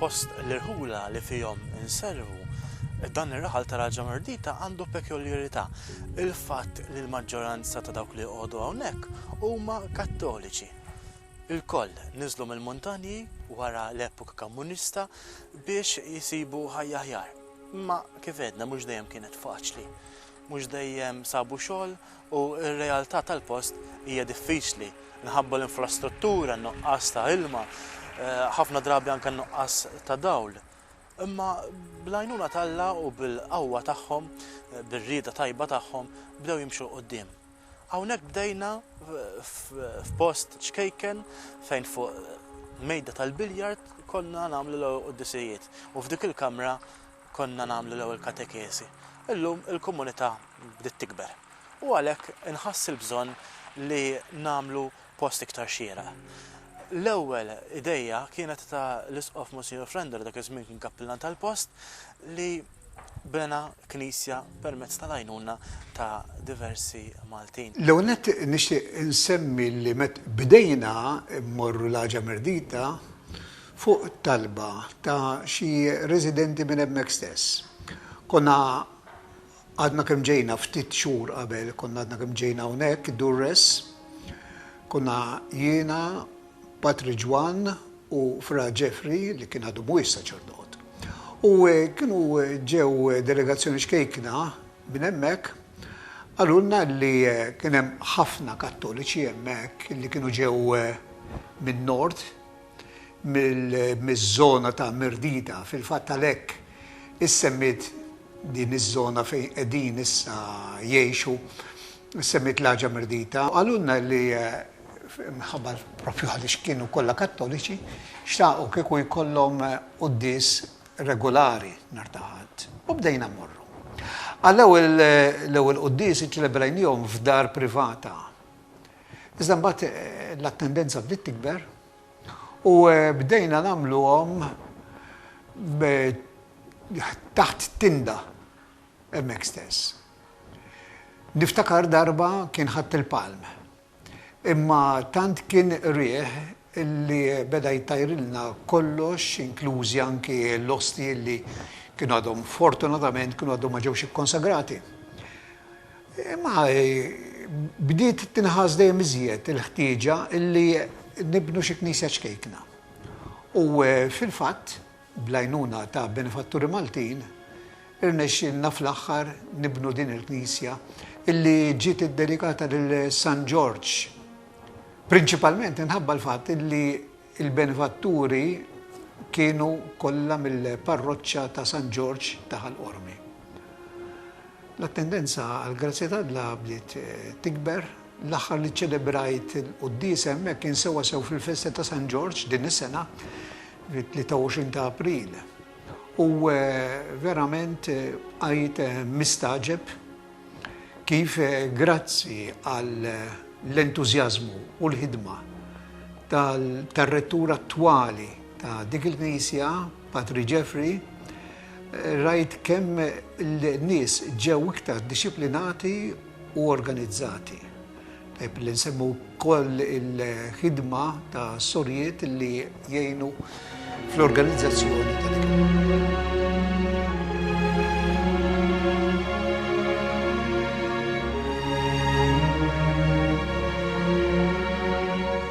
Fost l-irħula li fihom inservu, dan ir-raħal ta' Raġa Mardita għandu pekjoljarità, il-fatt li l-maġġoranza ta' dawk li joqogħdu hawnhekk huma Kattoliċi. Ilkoll niżlu mill-muntanji wara l-epoka Kammunista biex isibu ħajja aħjar. Imma kif għedna mhux dejjem kienet faċli. mhux dejjem sabu xogħol u r-realtà tal-post hija diffiċli minħabba l-infrastruttura, n-nuqqas ta' ilma, ħafna drabi anke n-nuqqas ta' dawl. Imma bl-għajnuna t'Alla u bil-qawwa tagħhom, bir-rieda tajba tagħhom, bdew jimxu 'l quddiem. Hawnhekk bdejna f'post ċkejken fejn fuq mejda tal-biljard konna nagħmlu l-Quddisijiet u f'dik il-kamra konna nagħmlu l-ewwel katekeżi. Illum il-komunità bdiet tikber u għalhekk inħass il-bżonn li nagħmlu post iktar xieraq. L-ewwel idejja kienet ta' l-Isqof Monsinjur Frenda li dak iż-żmien kien kappillan tal-post li bena knisja permezz tal-għajnuna ta' diversi Maltin. L-ewwel nett nixtieq insemmi li met bdejna mmorru l-Għaġa Mirdita fuq talba ta' xi residenti minn hemmhekk stess. Konna għadna kemm ġejna ftit xhur qabel, konna għadna kemm ġejna hawnhekk, Durres, konna jiena, Patri Ġwann u Fra Jeffrey li kien għadu mhuwiex saċerdot. U kienu ġew delegazzjoni xkejkna minn hemmhekk, qalulna li kien hemm ħafna Kattoliċi hemmhekk li kienu ġew min-Nord, miż-żona ta' Mirdita. Fil-fatt għalhekk issemmiet din iż-żona fejn qegħdin issa jgħixu, issemmiet l-Għaġa Mirdita. Qalulna li minħabba propju għaliex kienu kollha Kattoliċi, xtaqu kieku jkollhom quddies regulari nhar ta' Ħadd. U bdejna mmorru. Għall-ewwel l-ewwel quddies iċċelebrajniehom f'dar privata. Iżda mbagħad l-attendenza bdiet tikber u bdejna nagħmluhom taħt tinda hemmhekk stess. Niftakar darba kien ħatt il-palm, imma tant kien riħ li beda jtajrilna kollox inklużi anki l-ostji li kienu għadhom fortunatament kienu għadhom ma ġewx ikkonsagrati. Imma bdiet tinħass dejjem iżjed il-ħtieġa li nibnu xi knisja ċkejkna. U fil-fatt, bl-għajnuna ta' benefatturi Maltin, irnexxielna fl-aħħar nibnu din il-knisja li ġiet iddedikata lil San Ġorġ, prinċipalment minħabba l-fatt li Il-benefatturi kienu kollha mill-parroċċa ta' San Ġorġ ta' Ħal Qormi. L-attendenza għall-grazzja t'Alla bdiet tikber. L-aħħar li ċċelebrajt il-quddiesa hemmhekk kien sewwa sew fil-festa ta' San Ġorġ din is-sena, fit-23 ta' April. U verament bqajt mistagħġeb. Kif grazzi għall-entużjażmu u l-ħidma tar-rettur attwali ta' dik il-knisja, Patri Jeffrey, rajt kemm l-nies ġew iktar dixxiplinati u organizzati. Tajb li nsemmu wkoll il-ħidma ta' sorjiet li jgħinu fl-organizzazzjoni ta'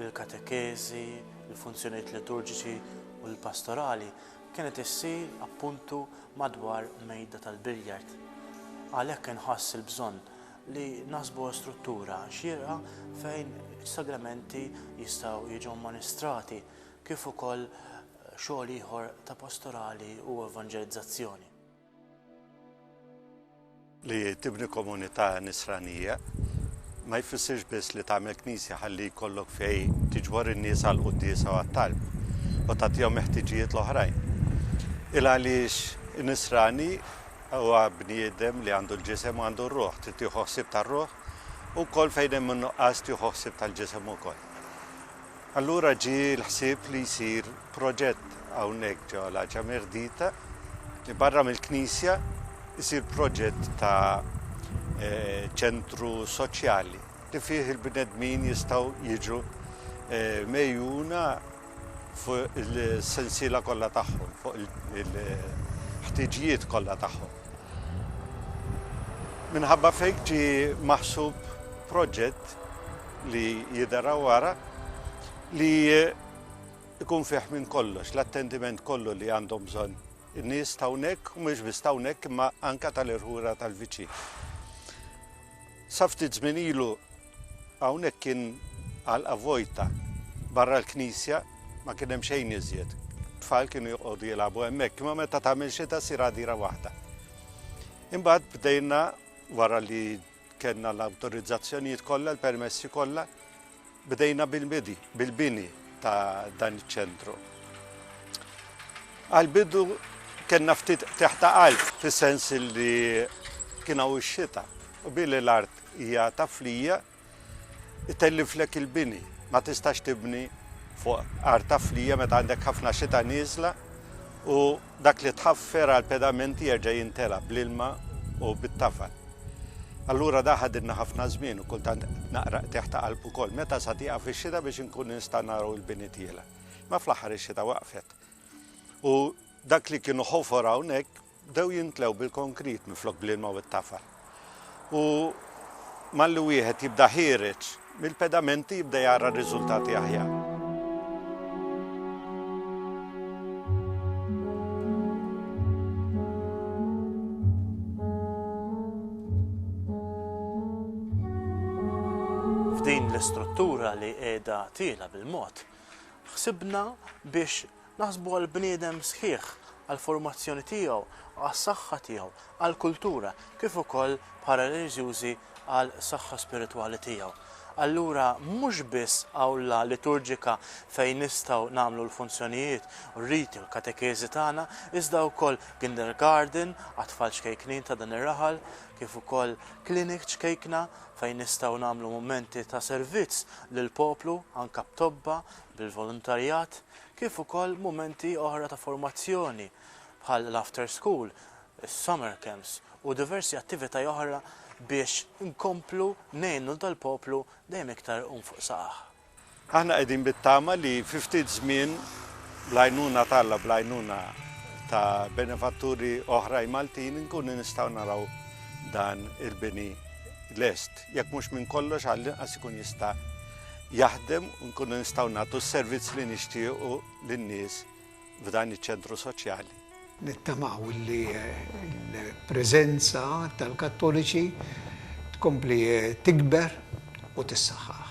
il-katekeżi, il-funzjonijiet liturġiċi u l-pastorali kienet issir appuntu madwar mejda tal-biljard. Għalhekk inħass il-bżonn li naħsbuha struttura xierqa fejn is-sagramenti jistgħu jiġu amministrati kif ukoll xogħol ieħor ta' pastorali u evanġelizzazzjoni. Li tibni komunità nisranija ma jfissirx biss li tagħmel knisja ħalli jkollok fejn tiġbor in-nies għall-quddiesa u għat-talb u tagħtihom il-ħtiġijiet l-oħrajn. Il għaliex nisrani huwa bniedem li għandu l-ġisem u għandu r-ruħ, trid tieħu ħsieb tar-ruħ, u wkoll fejn hemm in-nuqqas tieħu ħsieb tal-ġisem ukoll. Allura ġie l-ħsieb li jsir proġett hawnhekk ġo l-Għaġa Merdita li barra mill-knisja jsir proġett ta' eh, ċentru soċjali li fih il-bnedmin jistgħu jiġu eh, mejjuna fuq il-sensiela kollha tagħhom, fuq il-ħtiġijiet kollha tagħhom. Minħabba fejk ġi maħsub proġett li jidher hawn wara li ikun fih minn kollox, l-attendiment kollu li għandhom bżonn in-nies ta' hawnhekk u mhux biss ta' hawnhekk imma anke tal-irħura tal-viċin. Sa ftit żmien ilu hawnhekk kien għalqa vojta barra l-knisja ma kien hemm xejn iżjed. Tfal kienu joqogħdu jilagħbu hemmhekk, imma meta tagħmel xita sir għadira waħda. Imbagħad bdejna wara li Kellna l-awtorizzazzjonijiet kollha, l-permessi kollha, bdejna bil-bidi, bil-bini ta' dan iċ-ċentru. Għal-bidu kellna ftit teħta qalb, fis-sens li kien hawn ix-xita, u billi l-art hija ta' flija, itelliflek il-bini, ma tistax tibni fuq art ta' flija meta għandek ħafna xita nieżla u Dak li tħaffer għal pedamenti jerġa' jintela' bl-ilma u bit-tafal. Allura da ħadilna ħafna żmien u kultant naqra qtigħ ta' qalb ukoll. Meta sa tieqaf ix-xita biex inkunu nistgħu naraw il-bini tiela'? Imma fl-aħħar ix-xita waqfet. U dak li kienu ħofor hawnhekk bdew jimtlew bil-konkrit minflok bl-ilma u t-tafal. U malli wieħed jibda ħiereġ mill-pedamenti jibda jara r-riżultati aħjar. F'din l-istruttura li qiegħda tiela bil-mod, ħsibna biex Naħsbu għall-bniedem sħiħ, għall-formazzjoni tiegħu, għas-saħħa tiegħu, għall-kultura, kif ukoll bħala reliġjużi għall-saħħa spiritwali tiegħu. Allura mhux biss awla liturġika fejn nistgħu nagħmlu l-funzjonijiet, r-riti u l-katekeżi tagħna, iżda wkoll kindergarten għat-tfal ċkejknin ta' dan ir-raħal, kif ukoll clinic ċkejkna fejn nistgħu nagħmlu mumenti ta' servizz lill-poplu, anke b'tobba, bil-voluntarjat. kif ukoll mumenti oħra ta' formazzjoni bħal l-after school, is-summer camps u diversi attivitaj oħra biex inkomplu ngħinu lil dal-poplu dejjem iktar iqum fuq saqajh. Aħna qegħdin bit-tama li fi ftit żmien bl-għajnuna t'Alla, bl-għajnuna ta' benefatturi oħrajn Maltin inkunu nistgħu naraw dan il-bini lest. jekk mhux minn kollox għall-inqas ikun jista' jaħdem u nkunu nistgħu nagħtu s-servizz li nixtiequ lin-nies f'dan iċ-ċentru soċjali. Nittamaw li l-preżenza tal-Kattoliċi tkompli tikber u tissaħħaħ.